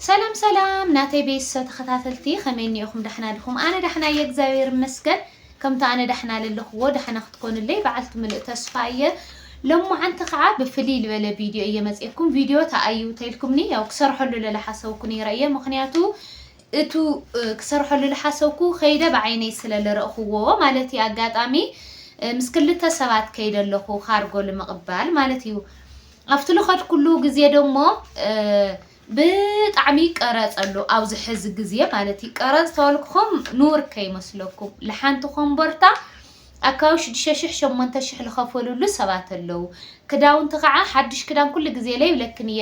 ሰላም ሰላም ናተይ ቤሶ ተከታተልቲ ከመይ እኒኤኩም ዳሕና ድኩም ኣነ ዳሕና እየ እግዚኣብሔር ይመስገን ከምቱ ኣነ ዳሕና ለለክዎ ዳሕና ክትኮኑለይ ባዓልቲ ምሉእ ተስፋ እየ ሎማዓንቲ ካዓ ብፍልይ ልበለ ቪድዮ እየ መፅኤኩም ቪድዮ ታኣዩ ተይልኩምኒ ያው ክሰርሐሉ ለላሓሰብኩ ነይረ እየ ምክንያቱ እቱ ክሰርሐሉ ልሓሰብኩ ከይደ ባዓይነይ ስለ ልረእክዎ ማለት እየ ኣጋጣሚ ምስ ክልተ ሰባት ከይደ ኣለኩ ካርጎ ልምቅባል ማለት እዩ ኣብቲ ልኸድኩሉ ግዜ ደሞ ብጣዕሚ ይቀረፅ ኣሎ ኣብዚ ሕዚ ግዜ ማለት እዩ። ቀረፅ ተበልኩኹም ንውር ከይመስለኩም ልሓንቲ ኮምቦርታ ኣካዊ ሽዱሽተ ሽሕ ሸሞንተ ሽሕ ልኸፈልሉ ሰባት ኣለው። ክዳውንቲ ከዓ ሓዱሽ ክዳን ኩሉ ግዜ ለይብለክን እየ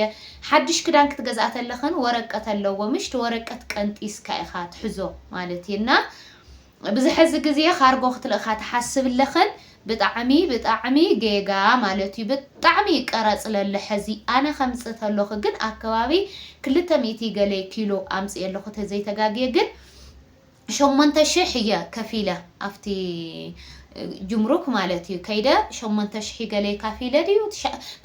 ሓዱሽ ክዳን ክትገዝኣ ተለኽን ወረቀት ኣለዎ ምሽቲ ወረቀት ቀንጢስካ ኢኻ ትሕዞ ማለት እዩ እና ብዚ ሐዚ ግዜ ካርጎ ክትልእካ ትሓስብ ለኽን ብጣዕሚ ብጣዕሚ ጌጋ ማለት እዩ ብጣዕሚ ቀረፅ ለሎ ሐዚ ኣነ ከምፅ ተለኹ ግን ኣከባቢ ክልተ ሚእቲ ገለ ኪሎ ኣምፅኤ ኣለኹ ተዘይ ተጋግየ ግን ሸሞንተ ሽሕ እየ ከፊለ ኣፍቲ ጅምሩክ ማለት እዩ ከይደ ሸሞንተ ሽሒ ገለ ካፊለ ድዩ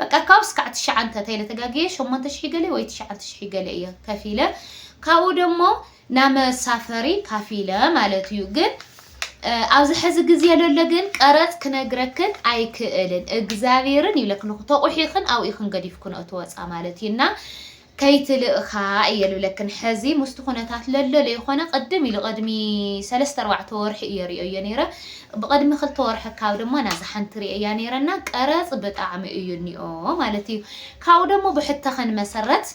በቃ ካብ ስካዕ ትሽዓንተ ተይለ ተጋግየ ሸሞንተ ሽሒ ገለ ወይ ትሽዓንተ ሽሒ ገለ እየ ከፊለ ካብኡ ደሞ ናይ መሳፈሪ ካፊለ ማለት እዩ ግን ኣብዚ ሕዚ ግዜ ለሎ ግን ቀረጽ ክነግረክን ኣይክእልን እግዛብሄርን ይብለክንኩ ተቁሒክን ኣብኡ ኢክን ገዲፍክንኦ ትወጻ ማለት እዩ እና ከይትልእካ እየ ልብለክን ሕዚ ምስቲ ኩነታት ለሎ ለይኮነ ቅድም ኢሉ ቅድሚ ሰለስተ ኣርባዕተ ወርሒ እየ ሪኦዮ ነይረ ብቅድሚ ክልተ ወርሒ ካብ ድማ ናዛ ሓንቲ ሪኦያ ነይረ እና ቀረጽ ብጣዕሚ እዩ እኒኦ ማለት እዩ ካብኡ ደሞ ብሕተክን መሰረት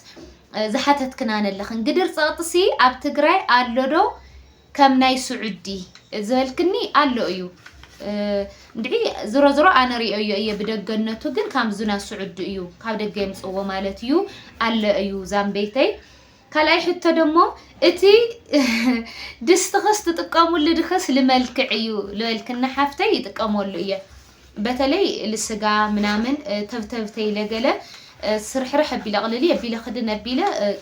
ዝሓተትክና ነለኽን ግድር ጸቕጢ ሲ ኣብ ትግራይ ኣሎ ዶ ከም ናይ ሱዑዲ ዝበልክኒ ኣሎ እዩ እንድዒ ዝሮ ዝሮ ኣነ ሪኦዮ እየ ብደገነቱ ግን ካም ዙና ሱዑዲ እዩ ካብ ደገ የምጽዎ ማለት እዩ ኣለ እዩ ዛምበይተይ ካልኣይ ሕቶ ደሞ እቲ ድስትኽስ ትጥቀሙሉ ድኽስ ልመልክዕ እዩ ልበልክና ሓፍተይ ይጥቀመሉ እየ በተለይ ልስጋ ምናምን ተብተብ ተይለ ገለ ስርሕርሕ ኣቢለ ቅልሊ ኣቢለ ክድን ኣቢለ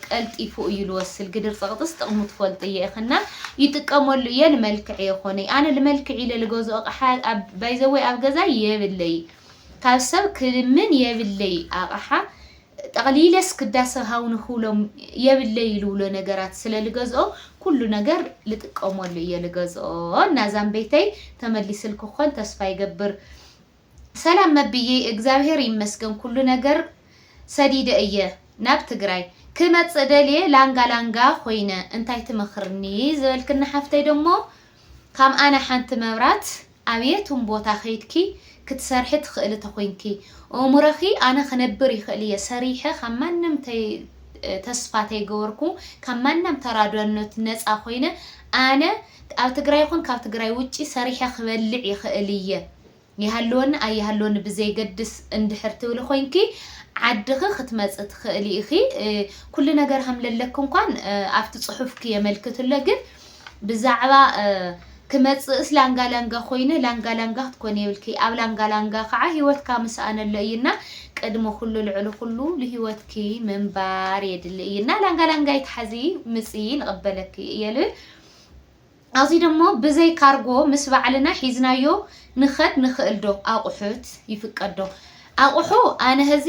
ቀልጢፉ እዩ ልወስል ግድር ፀቅጥስ ጥቅሙ ትፈልጡ እየ እክ እና ይጥቀመሉ እየ ልመልክዕ የኮነይ ኣነ ልመልክዕ ኢለ ልገዝኦ ኣቅሓ ባይዘወይ ኣብ ገዛይ የብለይ ካብ ሰብ ክልምን የብለይ ኣቅሓ ጠቕሊለስ ክዳሰ ሃው ንክብሎም የብለይ ልብሎ ነገራት ስለ ልገዝኦ ኩሉ ነገር ልጥቀመሉ እየ ልገዝኦ እና ዛምበይተይ ተመሊስልኪ ክኮን ተስፋ ይገብር ሰላም መብይይ እግዛብሄር ይመስገን ኩሉ ነገር ሰዲደ እየ ናብ ትግራይ ክመፅእ ደልየ ላንጋ ላንጋ ኮይነ እንታይ ትመክርኒ ዝበልክኒ ሓፍተይ ደሞ ካም ኣነ ሓንቲ መብራት ኣብ የትም ቦታ ከይድኪ ክትሰርሒ ትኽእሊ ተኾይንኪ እእሙረኺ ኣነ ክነብር ይኽእል እየ ሰሪሐ ካብ ማንም ተይ ተስፋ ተይገበርኩ ካብ ማናም ተራዳኖት ነፃ ኮይነ ኣነ ኣብ ትግራይ ይኹን ካብ ትግራይ ውጪ ሰሪሐ ክበልዕ ይኽእል እየ ይሃልወኒ ኣይሃልወኒ ብዘይገድስ እንድሕር ትብሊ ኮይንኪ ዓድኺ ክትመፂ ትኽእሊ ኢኺ ኩሉ ነገር ሃምለለኪ እንኳን ኣብቲ ፅሑፍኪ የመልክት እሎ ግን ብዛዕባ ክመጽእስ ላንጋ ላንጋ ኮይነ ላንጋ ላንጋ ክትኮኒ የብልኪ ኣብ ላንጋ ላንጋ ካዓ ሂወትካ ምስኣን ኣሎ እዩ እና ቅድሚ ኩሉ ልዕሊ ኩሉ ልሂወትኪ ምንባር የድሊ እዩ እና ላንጋ ላንጋ ኣይትሓዚ ምጽኢ ንቅበለኪ እየ ልብል ኣብዚ ደሞ ብዘይ ካርጎ ምስ ባዕልና ሒዝናዮ ንኸድ ንኽእል ዶ ኣቁሑት ይፍቀድ ዶ ኣቁሑ ኣነ ህዚ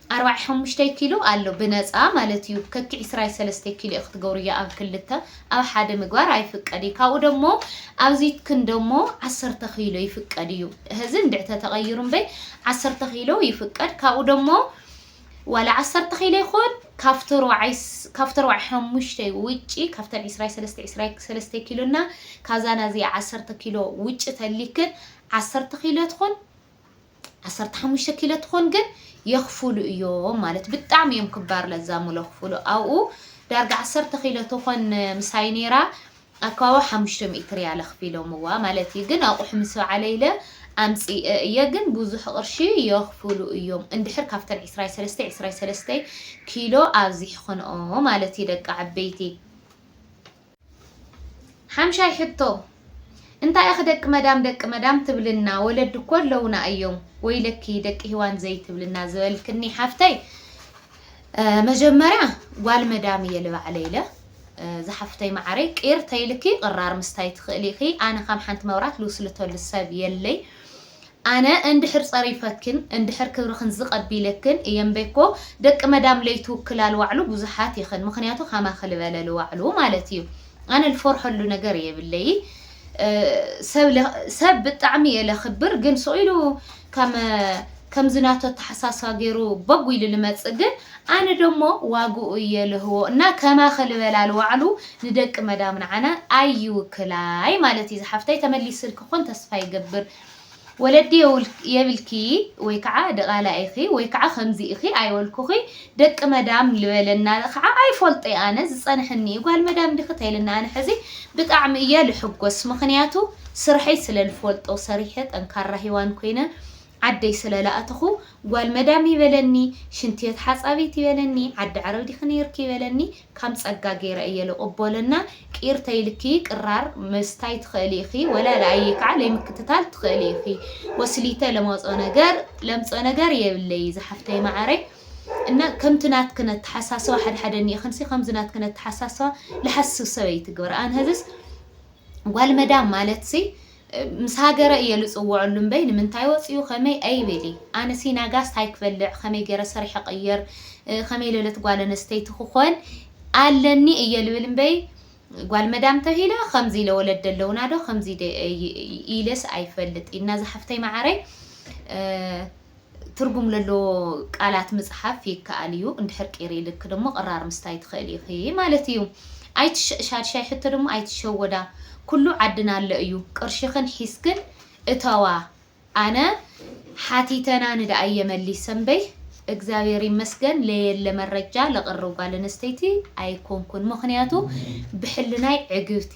ኣርባዕይ ሓሙሽተይ ኪሎ ኣሎ ብነጻ ማለት እዩ ከኪ ዕስራይ ሰለስተይ ኪሎ እዩ ክትገብሩ እያ ኣብ ክልተ ኣብ ሓደ ምግባር ኣይፍቀድ እዩ ካብኡ ደሞ ኣብዚትክን ደሞ ዓሰርተ ኪሎ ይፍቀድ እዩ ህዚ እንድዕ ተተቀይሩ እምበይ ዓሰርተ ኪሎ ይፍቀድ ካብኡ ደሞ ዋላ ዓሰርተ ኪሎ ይኹን ካብቲ ኣርባዕይ ካብቲ ኣርባዕይ ሓሙሽተይ ውጪ ካብተን ዕስራይ ሰለስተ ዕስራይ ሰለስተ ኪሎና ካዛና እዚኣ ዓሰርተ ኪሎ ውጪ ተሊክን ዓሰርተ ኪሎ ትኹን ዓሰርተ ሓሙሽተ ኪሎ ትኾን ግን የኽፍሉ እዮም ማለት ብጣዕሚ እዮም ክባር ለዛሙ ለኽፍሉ ኣብኡ ዳርጋ ዓሰርተ ኪሎ ትኾን ምሳይ ነይራ ኣካባቢ ሓሙሽተ ሚእቲ ሪያል ኣኽፊሎምዋ ማለት እዩ ግን ኣቑሑ ምስ በዓለ ኢለ ኣምፂእ እየ ግን ብዙሕ ቅርሺ የኽፍሉ እዮም እንድሕር ካብተን ዕስራይ ሰለስተ ዕስራይ ሰለስተ ኪሎ ኣብዚሕኽንኦ ማለት እዩ ደቂ ዓበይቲ ሓምሻይ ሕቶ እንታይ ኢኺ ደቂ መዳም ደቂ መዳም ትብልና ወለዲ እኮ ኣለውና እዮም ወይለኪ ደቂ ሂዋን ዘይትብልና ዝበልክኒ ሓፍተይ መጀመርያ ጓል መዳም እየ ልባዕለ ኢለ ዝሓፍተይ መዓረይ ቂር ተይልኪ ቅራር ምስታይ ትኽእሊ ኢኺ ኣነ ከም ሓንቲ መብራት ልውስልተሉ ሰብ የለይ ኣነ እንድሕር ጸሪፈክን እንድሕር ክብርኽን ዝቅ ኣቢለክን እየ እምበይኮ ደቂ መዳም ለይትውክላ ልዋዕሉ ብዙሓት ኢኽን ምኽንያቱ ከማኺ ልበለ ልዋዕሉ ማለት እዩ ኣነ ልፎርሐሉ ነገር የብለይ ሰብ ብጣዕሚ እየ ለኽብር ግን ሱቅ ኢሉ ከም ከምዚ ናቱ ኣተሓሳስባ ገይሩ ቦግ ኢሉ ልመጽእ ግን ኣነ ደሞ ዋግኡ እየ ልህቦ እና ከማኺ ልበላ ልዋዕሉ ንደቂ መዳም ንዓና ኣይውክላይ ማለት እዩ ዝሓፍተይ ተመሊስልኪ ክኾን ተስፋ ይገብር ወለዲ የብልኪ ወይ ከዓ ድቓላ ኢኺ ወይ ከዓ ከምዚ ኢኺ ኣይበልኩኺ ደቂ መዳም ልበለና ከዓ ኣይፎልጦ እየ ኣነ ዝፀነሐኒ እዩ ጓል መዳም ዲኺ ተይልና ኣነ ሕዚ ብጣዕሚ እየ ልሕጎስ ምኽንያቱ ስርሐይ ስለ ልፎልጦ ሰሪሐ ጠንካራ ሂዋን ኮይነ ዓደይ ስለ ላኣተኹ ጓል መዳም ይበለኒ ሽንትቤት ሓፃቢት ይበለኒ ዓዲ ዓረብ ዲኺ ነይርኪ ይበለኒ ካም ጸጋ ገይረ እየ ልቅቦለ እና ቂር ተይልኪ ቅራር ምስታይ ትክእሊ ኢኪ ወላ ለኣየ ካዓ ለይምክትታል ትክእሊ ኢኪ ወስሊተ ለመፆ ነገር ለምፆ ነገር የብለይ ዛሓፍተይ ማዓረይ እና ከምቲ ናትክን ኣታሓሳስባ ሓደሓደ እኒኢክንሲ ከምዚ ናትክን ኣታሓሳስባ ልሓስብ ሰበይቲ ግበራ ኣን ሀዝስ ጓል መዳም ማለትሲ ምስ ሃገረ እየ ልጽውዐሉ እምበይ ንምንታይ ወጺኡ ከመይ ኣይበሊ ኣነ ሲና ጋስ ታይ ክበልዕ ከመይ ገረ ሰሪሐ ቀየር ከመይ ለለት ጓል ኣነስተይቲ ክኾን ኣለኒ እየ ልብል እምበይ ጓል መዳም ተብሂለ ከምዚ ኢለ ወለድ ደለውና ዶ ከምዚ ኢለስ ኣይፈልጥ ኢና ዝሓፍተይ መዓረይ ትርጉም ለለዎ ቃላት ምጽሓፍ ይከኣል እዩ እንድሕር ቂር ኢልኪ ደሞ ቅራር ምስታይ ትኽእሊ ኢኺ ማለት እዩ ኣይትሸ ሻድሻይ ሕቶ ደሞ ኣይትሸወዳ ኩሉ ዓድና ኣሎ እዩ ቅርሽኽን ሒዝክን እተዋ ኣነ ሓቲተና ንድኣየ መሊሰ እምበይ እግዚኣብሔር ይመስገን ለየለ መረጃ ለቅርብ ጓል ኣነስተይቲ ኣይኮንኩን ምኽንያቱ ብሕልናይ ዕግብቲ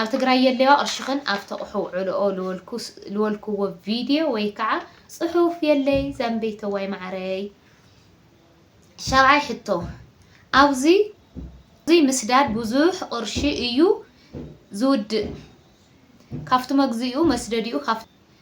ኣብ ትግራይ የለዋ ቅርሽኽን ኣብ ተቕሑ ውዕልኦ ልወልክዎ ቪድዮ ወይ ከዓ ፅሑፍ የለይ ዛምበይተዋይ ማዓረይ ሻብዓይ ሕቶ ኣብዙይ እዙይ ምስዳድ ብዙሕ ቅርሺ እዩ ዝውድእ ካብቲ መግዚኡ መስደዲኡ ካብቲ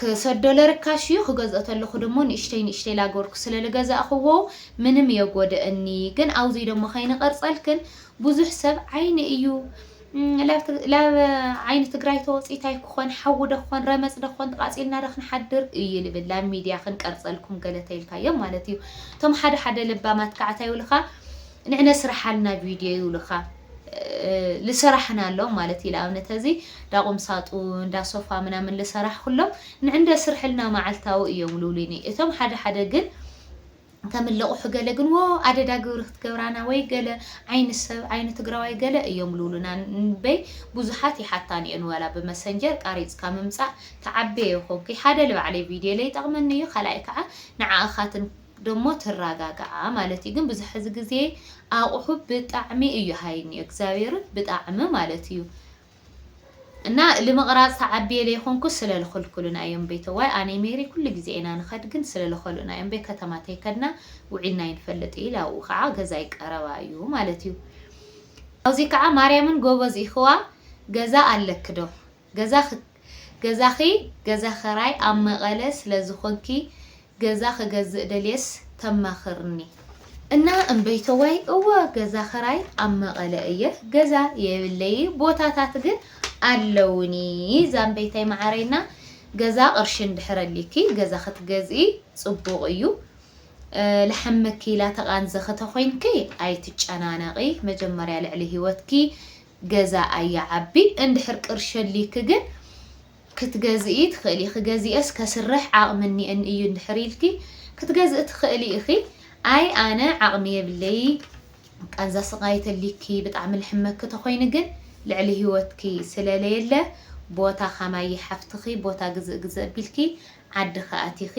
ክሰዶለ ርካሽ እዩ ክገዝኦ ተለኩ ደሞ ንእሽተይ ንእሽተይ ላገበርኩ ስለ ልገዛእክዎ ምንም የጎደእኒ ግን ኣውዙይ ደሞ ከይንቀርፀልክን ቡዙሕ ሰብ ዓይኒ እዩ ላብ ዓይኒ ትግራይ ተወፂት ኣይክኮን ሓዊ ዶ ክኮን ረመፅ ዶ ክኮን ተቃፂልና ዶ ክንሓድር እዩ ልብል ላብ ሚድያ ክንቀርፀልኩም ገለ ተይልካዮም ማለት እዩ እቶም ሓደ ሓደ ለባማት ካዓ ታይ ይብልካ ንዕነ ስርሓልና ቪድዮ ይብልካ ልሰራሕ ናሎም ማለት እዩ ልኣብነት ሀዚ ዳቁምሳጡን ዳሶፋ ምናምን ልሰራሕ ኩሎም ንዕንደ ስርሕልና ማዓልታዊ እዮም ሉሊኒ እቶም ሓደ ሓደ ግን ከም ልቁሑ ገለ ግን ዎ ኣደዳ ግብሪ ክትገብራና ወይ ገለ ዓይኒ ሰብ ዓይኒ ትግራዋይ ገለ እዮም ሉሉና ንበይ ቡዙሓት ይሓታኒ እዮን ዋላ ብመሰንጀር ቃሪፅካ ምምፃእ ትዓቤ ኮንኪ ሓደ ልባዕለይ ቪድዮ ለይጠቅመኒ እዩ ካልኣይ ካዓ ንዓካትን ደሞ ትራጋጋዓ ማለት እዩ ግን ብዙሕ ሐዚ ግዜ ኣቁሑ ብጣዕሚ እዩ ሃይንዩ እግዚኣብሔርን ብጣዕሚ ማለት እዩ እና ልምቅራፅ ተዓብየ ለይኮንኩ ስለ ልክልኩሉና እዮም እምበይ ተዋይ ኣነይ ሜሪ ኩሉ ግዜ ኢና ንከድ ግን ስለ ልከሉእና እዮም እምበይ ከተማ ተይከድና ውዒልና ኣይንፈልጥ ኢለ ኣብኡ ከዓ ገዛይ ቀረባ እዩ ማለት እዩ ኣውዚ ከዓ ማርያምን ጎበዝ ኢክዋ ገዛ ኣለኪ ዶ ገዛ ገዛኺ ገዛ ኸራይ ኣብ መቐለ ስለ ዝኾንኪ ገዛ ክገዝእ ደልየስ ተማኽርኒ። እና እምበይተዋይ እወ ገዛ ኸራይ ኣብ መቐለ እየ ገዛ የብለይ ቦታታት ግን ኣለውኒ ዛምበይታይ መዓረይ እና ገዛ ቅርሺ እንድሕር ኣሊኪ ገዛ ክትገዝኢ ፅቡቕ እዩ ልሓመኪ ኢላ ተቓንዘኺ ተኾይንኪ ኣይትጨናነቒ መጀመርያ ልዕሊ ሂወትኪ ገዛ ኣይዓቢ እንድሕር ቅርሺ ኣልይኪ ግን ክትገዝኢ ትክእሊ ኢኪ ገዚኤስ ከስርሕ ዓቅሚ እኒኤኒ እዩ እንድሕር ኢልኪ ክትገዝኢ ትክእሊ ኢኪ ኣይ ኣነ ዓቅሚ የብለይ ቃንዛ ስቃይ ተልይኪ ብጣዕሚ ልሕመኪ ተኮይኑ ግን ልዕሊ ሂወትኪ ስለለየለ ቦታ ካማይ ሓፍትኪ ቦታ ግዝእ ግዝእ ኣቢልኪ ዓድኺ ኣቲኺ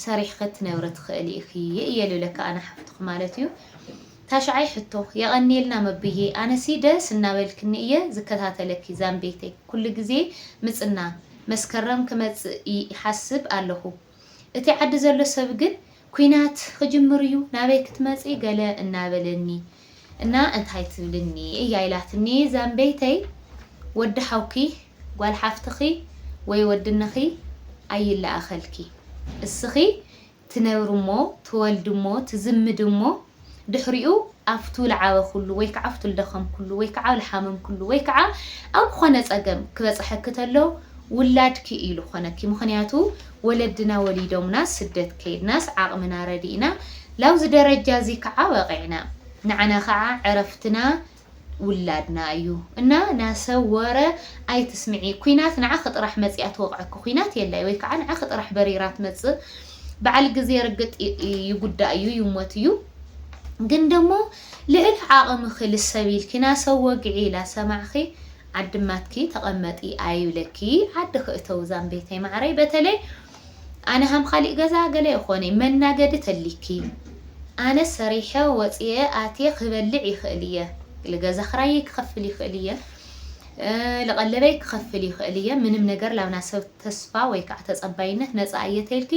ሰሪሕኺ ትነብሪ ትኽእሊ ኢኺ እየ ልብለኪ ኣነ ሓፍትኺ ማለት እዩ ታሽዓይ ሕቶ የቀንየልና መብዬ ኣነሲ ደስ እናበልክኒ እየ ዝከታተለኪ ዛምቤተይ ኩሉ ግዜ ምፅና መስከረም ክመፅእ ይሓስብ ኣለኹ እቲ ዓዲ ዘሎ ሰብ ግን ኩናት ክጅምር እዩ ናበይ ክትመፂ ገለ እናበለኒ እና እንታይ ትብልኒ እያ ኢላትኒ ዛምበይተይ ወዲ ሓውኪ ጓል ሓፍትኺ ወይ ወድነኺ ኣይላኣኸልኪ እስኺ ትነብሪ እሞ ትወልዲ እሞ ትዝምዲ እሞ ድሕሪኡ ኣፍቱ ልዓበኹሉ ወይ ከዓ ኣፍቱ ልደኸምኩሉ ወይ ከዓ ልሓመምኩሉ ወይ ከዓ ኣብ ኾነ ፀገም ክበፀሐኪ ተሎ ውላድኪ እዩ ልኾነኪ ምኽንያቱ ወለድና ወሊዶምና ስደት ከይድናስ ዓቕምና ረዲእና ላብዚ ደረጃ እዚ ክዓ በቒዕና። ንዓና ክዓ ዕረፍትና ውላድና እዩ። እና ናሰብ ወረ ኣይትስምዒ ኩናት ንዓኺ ጥራሕ መፂኣ ትወቕዐኪ ኩናት የላይ ወይ ክዓ ንዓኺ ጥራሕ በሪራ ትመፅእ ብዓል ግዜ ርግጥ ይጉዳእ እዩ ይሞት እዩ ግን ደሞ ልዕሊ ዓቕምኺ ልሰብ ኢልኪ ናሰብ ወግዒ ኢላ ሰማዕኺ ዓዲ ማትኪ ተቀመጢ ኣይብለኪ ዓድኪ እተዊ ዛምቤተይ ማዓረይ በተለይ ኣነ ሃም ካሊእ ገዛ ገለ የኮነይ መናገዲ ተሊኪ ኣነ ሰሪሐ ወፅየ ኣትየ ክበልዕ ይክእል እየ ልገዛ ክራየይ ክከፍል ይክእል እየ ልቀለበይ ክከፍል ይክእል እየ ምንም ነገር ላብና ሰብ ተስፋ ወይካዓ ተፀባይነት ነፃ እየ ተይልኪ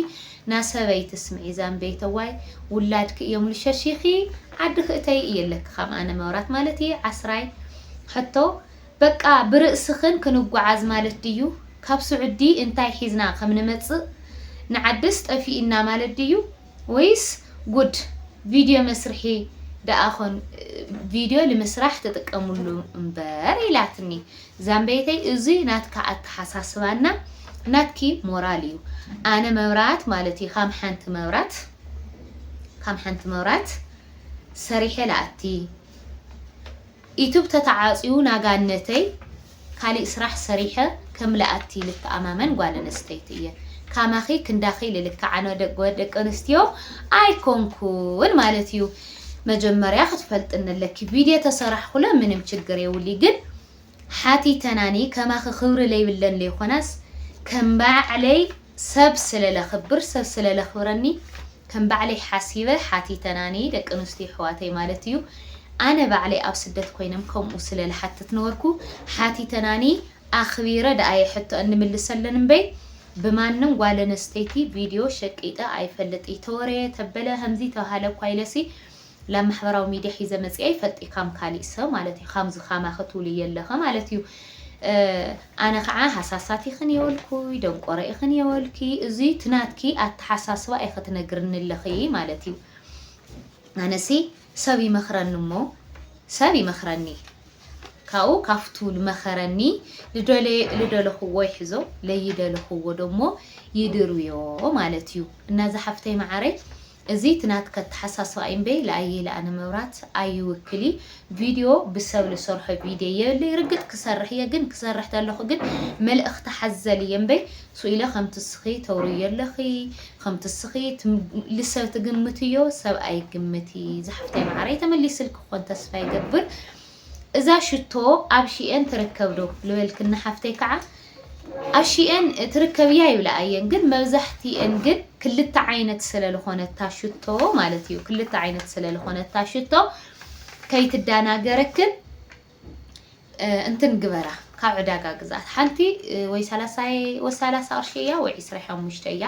ናሰበይ ትስምዒ ዛምበይተዋይ ውላድኪ እዮም ልሸሺኪ ዓድኪ እተዪ እየ ለኪ ካም ኣነ መብራት ማለት እየ ዓስራይ ሕቶ በቃ ብርእስክን ክንጓዓዝ ማለት ድዩ ካብ ሱዑዲ እንታይ ሒዝና ከም ንመፅእ ንዓድስ ጠፊኢና ማለት ድዩ ወይስ ጉድ ቪድዮ መስርሒ ደኣ ኮን ቪድዮ ልምስራሕ ትጥቀምሉ እምበር ኢላትኒ ዛምበይተይ እዙይ ናትካ ኣተሓሳስባ እና ናትኪ ሞራል እዩ ኣነ መብራት ማለት እዩ ካም ሓንቲ መብራት ካም ሓንቲ መብራት ሰሪሐ ላኣቲ ኢቱብ ተተዓፅዩ ናጋነተይ ካሊእ ስራሕ ሰሪሐ ከም ላኣቲ ልተኣማመን ጓል ኣንስተይቲ እየ ካማኺ ክንዳኺ ልልክዓ ደቂ ኣንስትዮ ኣይኮንኩን ማለት እዩ መጀመርያ ክትፈልጥኒ ኣለኪ ቪድዬ ተሰራሕኩለ ምንም ችግር የውሊ ግን ሓቲተናኒ ከማኺ ክብሪ ለይብለን ለይኮናስ ከም ባዕለይ ሰብ ስለለኽብር ሰብ ስለለኽብረኒ ከም ባዕለይ ሓሲበ ሓቲተናኒ ደቂ ኣንስትዮ ኣሕዋተይ ማለት እዩ ኣነ ባዕለይ ኣብ ስደት ኮይነም ከምኡ ስለልሓትት ነበርኩ ሓቲተናኒ ኣኽቢረ ደኣየ ሕቶ እንምልሰለን እምበይ ብማንም ጓል ኣነስተይቲ ቪድዮ ሸቂጠ ኣይፈልጥይ ተወረየ ተበለ ከምዝይ ተባሃለ እኳ ኢለሲ ላብ ማሕበራዊ ሚድያ ሒዘ መፅየ ኣይፈልጥይ ካም ካሊእ ሰብ ማለት እዩ ካምዚ ካማኪ ትብልይ የለከ ማለት እዩ ኣነ ከዓ ሃሳሳት ኢክን የወልኩይ ደንቆሮ ኢክን የወልክይ እዙይ እቲ ናትኪ ኣተሓሳስባ ኢኪ ትነግርኒ ኣለክይ ማለት እዩ ኣነሲ ሰብ ይመኽረኒ እሞ ሰብ ይመኽረኒ ካብኡ ካብቱ ልመኸረኒ ልደለኹዎ ይሕዞ ለይደለኹዎ ደሞ ይድርብዮ ማለት እዩ እና እዛ ሓፍተይ መዓረይ እዚ እቲ ናትከ ኣተሓሳስባ እዩ እምበይ ለኣየይ ለኣነ መብራት ኣይውክል ቪድዮ ብሰብ ልሰርሖ ቪድዮ የብለይ ርግጥ ክሰርሕ እየ ግን ክሰርሕ ተለኹ ግን መልእኽቲ ሓዘል እየ እምበይ ሱኢለ ከምቲ እስኺ ተውርዮ ኣለኺ ከምቲ እስኺ ልሰብ ትግምትዮ ሰብ ኣይግምቲ ዝሓፍተይ ማዓረይ ተመሊስልኪ ክኮን ተስፋ ይገብር እዛ ሽቶ ኣብ ሺኤን ትርከብ ዶ ልበልክኒ ሓፍተይ ካዓ ኣብ ሺኤን ትርከብ እያ ይብላ ኣየን ግን መብዛሕቲኤን ግን ክልተ ዓይነት ስለ ልኮነታ ሽቶ ማለት እዩ ክልተ ዓይነት ስለ ልኮነታ ሽቶ ከይትዳናገረክን እንትን ግበራ ካብ ዕዳጋ ግዛት ሓንቲ ወይ ሰላሳይ ወይ ሰላሳ ቅርሺ እያ ወይ ዕስራይ ሓሙሽተ እያ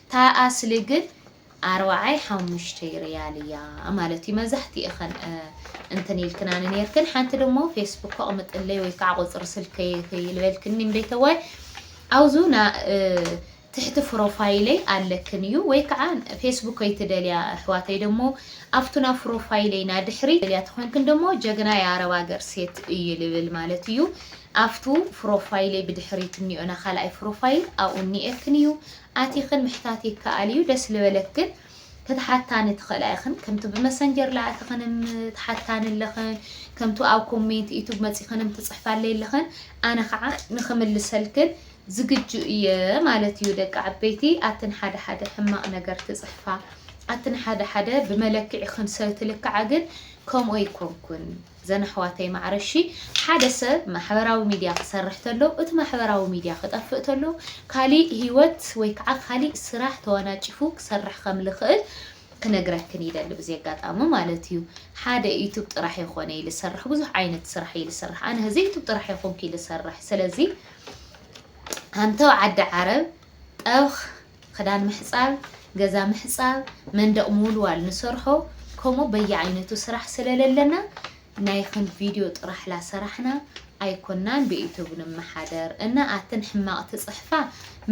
እታ ኣስሊ ግን ኣርባዓይ ሓሙሽተይ ሪያል እያ ማለት እዩ መብዛሕትኤኸን እንትን ኢልክናኒ ነርክን ሓንቲ ደሞ ፌስቡክ ኣቕምጥለይ ወይ ከዓ ቁፅሪ ስልከይ ይልበልክኒ እምበይተዋይ ኣውዙ ትሕቲ ፍሮፋይለይ ኣለክን እዩ ወይ ካዓ ፌስቡከይ ትደልያ ኣሕዋተይ ደሞ ኣፍቱና ፍሮፋይለይ ናድሕሪት ትደልያ ተኮንክን ደሞ ጀግና ያ ኣረብ ኣገር ሴት እዩ ልብል ማለት እዩ ኣፍቱ ፍሮፋይለይ ብድሕሪት እኒኦ ናካልኣይ ፍሮፋይል ኣብኡ እኒኤክን እዩ ኣቲክን ምሕታት ይካኣል እዩ ደስ ልበለክን ክትሓታኒ ትክእላ ኢክን ከምቱ ብመሰንጀር ላኣትክንም ትሓታኒ ኣለክን ከምቱ ኣብ ኮሜንት ዩቱብ መፂክንም ትፅሕፋለይ ኣለክን ኣነ ካዓ ንክምልሰልክን ዝግጁ እየ ማለት እዩ ደቂ ዓበይቲ ኣትን ሓደ ሓደ ሕማቅ ነገር ትጽሕፋ ኣትን ሓደ ሓደ ብመለክዒክን ሰ ትልክዓ ግን ከምኡ ኣይኮንኩን ዘን ኣሕዋተይ ማዕረ እሺ ሓደ ሰ ማሕበራዊ ሚድያ ክሰርሕ ተሎ እቲ ማሕበራዊ ሚድያ ክጠፍእ ተሎ ካሊእ ሂወት ወይ ከዓ ካሊእ ስራሕ ተዋናጭፉ ክሰርሕ ከም ልክእል ክነግረክን ይደሊ ብዚ ኣጋጣሚ ማለት እዩ ሓደ ዩቱብ ጥራሕ የኮነይ ልሰርሕ ብዙሕ ዓይነት ስራሕ እይ ልስርሕ ኣነ ህዚ ዩቱብ ጥራሕ የኮንኩይ ልሰርሕ ስለዚ ኣንተው ዓዲ ዓረብ ጠብኽ ኽዳን ምሕጻብ ገዛ ምሕጻብ መንደቕ ምውልዋል ንሰርሖ ከምኡ በየዓይነቱ ስራሕ ስለለለና ናይ ኽን ቪድዮ ጥራሕ ላሰራሕና ኣይኮናን ብዩቱብ ንመሓደር እና ኣትን ሕማቕ ትጽሕፋ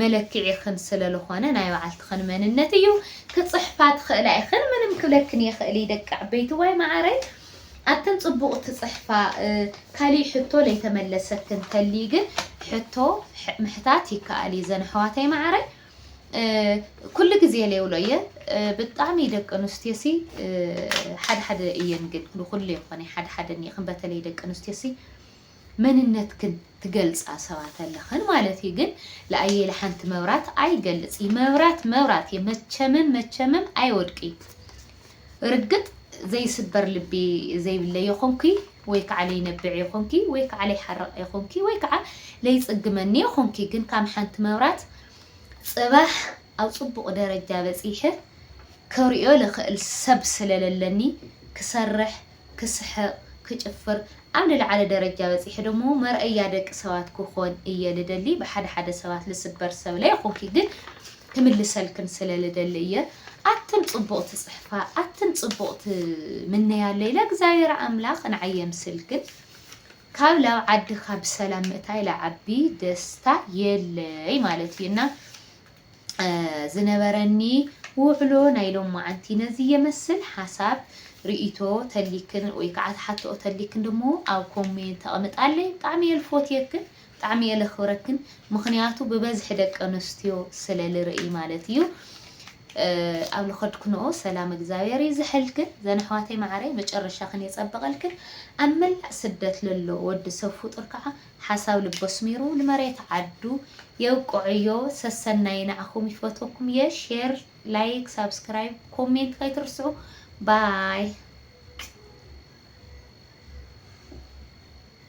መለክዒ ኽን ስለልኾነ ናይ በዓልትኽን መንነት እዩ ክጽሕፋ ትኽእላ ኢኽን ምንም ክብለክን የኽእል ደቂ ዓበይቲ ዋይ መዓረይ ኣትን ጽቡቅ ትጽሕፋ ካሊእ ሕቶ ለይተመለሰ ተንተልዪ ግን ሕቶ ምሕታት ይከኣል እዪ ዘን ኣሕዋተይ መዓረይ ኩሉ ግዜ ለይብሎ እየ ብጣዕሚ ደቂ ኣንስትዮ ሲ ሓደ ሓደ እየን ግን ንኩሉ የኮነይ ሓደ ሓደ እኒኤክን በተለይ ደቂ ኣንስትዮ ሲ መንነትክን ትገልጻ ሰባት ኣለኽን ማለት እዩ ግን ለኣየለ ሓንቲ መብራት ኣይገልጽ እዩ መብራት መብራት እየ መቸምም መቸምም ኣይወድቅ እዩ ርግጥ ዘይስበር ልቢ ዘይብለ የኾንኪ ወይ ከዓ ለይነብዕ የኾንኪ ወይ ከዓ ለይሓርቅ የኾንኪ ወይ ከዓ ለይጽግመኒ የኾንኪ ግን ካም ሓንቲ መብራት ጽባሕ ኣብ ጽቡቅ ደረጃ በጺሕ ከርእዮ ልኽእል ሰብ ስለለለኒ ክሰርሕ ክስሕቅ ክጭፍር ኣብ ልልዓለ ደረጃ በጺሐ ደሞ መርኣያ ደቂ ሰባት ክኮን እየ ልደሊ ብሓደ ሓደ ሰባት ልስበር ሰብ ለይኮንኪ ግን ክምልሰልክን ስለ ልደሊ እየ ኣትን ጽቡቅ ትጽሕፋ ኣትን ጽቡቅ ትምነያ ለይ ለእግዚኣብሔር ኣምላክ ንዓይ የምስልክን ካብ ላብ ዓድካ ብሰላም ምእታይ ልዓቢ ደስታ የለይ ማለት እዩ እና ዝነበረኒ ውዕሎ ናይ ሎማዓንቲ ነዚ የመስል ሓሳብ ሪኢቶ ተልይክን ወይ ካዓ ትሓተኦ ተልይክን ደሞ ኣብ ኮሜንት ኣቅምጣለይ ብጣዕሚ እየ ልፎትየክን ብጣዕሚ እየ ለክብረክን ምክንያቱ ብበዝሒ ደቂ ኣንስትዮ ስለ ልርእይ ማለት እዩ ኣብ ልከድክንኦ ሰላም እግዚኣብሔር ይዝሐልክን ዘን ኣሕዋተይ ማዓረይ መጨረሻክን የፀብቀልክን ኣብ መላእ ስደት ለሎ ወዲ ሰብ ፍጡር ካዓ ሓሳብ ልቡ ኣስሚሩ ንመሬት ዓዱ የብቆዐዮ ሰሰናዩ ንዓኹም ይፈትወኩም እየ ሼር ላይክ ሳብስክራይብ ኮሜንት ከይትርስዑ ባይ